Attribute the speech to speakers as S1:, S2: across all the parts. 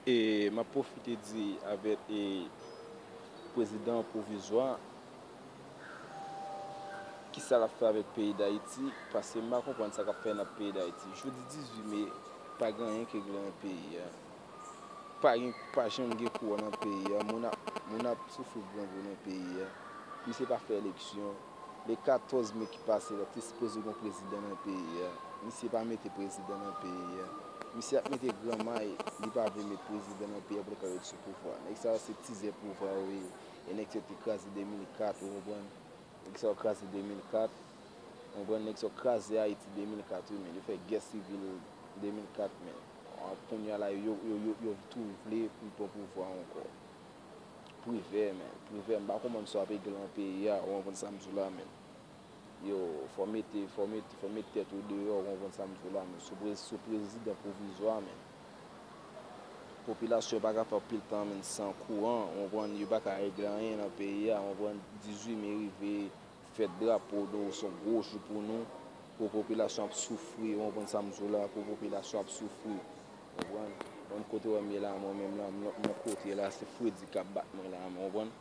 S1: E m ap pwofite di avèk prezidan pwovizwa a ki sa l ap fè avèk peyi Dayiti paske m pa konprann sa k ap fè nan peyi Dayiti. Jodi 18 me, pa gen anyen ki regle nan peyi a. Pa janm gen kouran nan peyi a. Moun ap soufri grangou nan peyi a. Misye pa fè eleksyon. Le 14 me ki pase la te sipoze gon prezidan nan peyi a, misye pa mete prezidan nan peyi a. Misye ap mete gran may, li pa vle met prezidan nan peyi a pou li ka ret sou pouvwa. Nèg sa yo se tizè pouvwa yo ye. E nèg sa yo te kraze 2004, ou konprann. Nèg sa yo kraze 2004, ou konprann. Nèg sa yo kraze Ayiti 2004 wi men. Yo fè gè sivil 2004 men. Kounya la yo tou vle pou yo pran pouvwa ankò. Privè men privè m pa konprann sa w ap egri lan peyi a ou konprann sa m di w la menm yo fò w mete fò w mete fò w mete tèt ou deyò ou konprann sa m di w la menm sou prezi sou prezidan pwovizwa menm popilasyon pa ka fè anpil tan menm san kouran ou konprann yo pa ka egri anyen lan peyi a ou konprann 18 me rive fèt drapo nou se yon gwo jou pou nou pou popilasyon ap soufri ou konprann sa m di w la pou popilasyon ap soufri. Konprann? Banm kote wèm ye la mwen menm la m nan yon kote la se fredi kap bat mwen la menm konprann?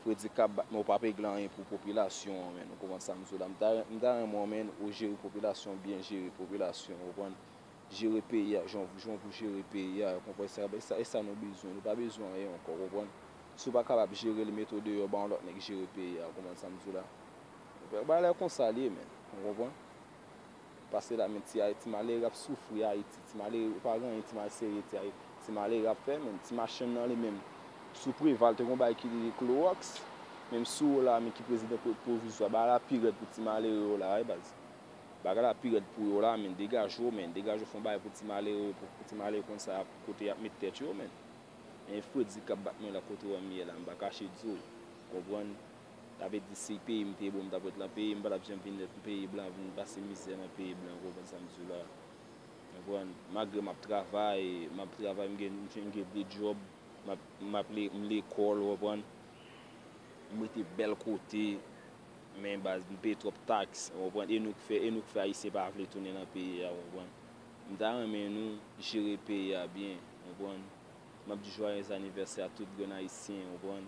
S1: Fredi kap bat mwen ou pa p egle anyen pou popilasyon an menn ou konprann sam diw la m ta m ta renmen w menn ou jere popilasyon byen jere popilasyon ou konprann jere peyi a jan jan pou jere peyi a ou konprann se ap e sa nou bezwen nou pa bezwen anyen ankò konprann si w pa kapab jere l mete w deyò ba yon lòt nèg jere peyi a ou konprann sam diw la bagay la konsa l ye menn ou konprann. Pase la men ti ayiti malere ap soufri ayiti ti malere yo pa gen anyen ti mal sere ti ayiti ti malere ap fè men ti machann nan li menm sou preval te gon bagay ki rele klorox menm sou ou la men ki prezidan pwovizwa bagay la pi rèd pou ti malere yo la wi baz bagay la pi rèd pou yo la men degaje w men degaje w fon bagay pou ti malere yo pou ti malere konn sa yap kote yap met tèt yo men men fredi kap bat mwen la kote wèm ye la m pa kache di w konprann Sa vle di si peyi m te bon m tap ret lan peyi m pa tap janm vin ret peyi blan vin pase mizè nan peyi blan ou konprann sa m di w la konprann malgre map travay map travay m gen m gen 2 djòb map map le m lekòl ou konprann m rete bèl kote men baz m peye twòp taks ou konprann e nou k fè e nou k fè ayisyen pa vle tounen lan peyi a ou konprann m ta renmen nou jere peyi a byen ou konprann map di jwayèz anivèsè a tout grenn ayisyen ou konprann.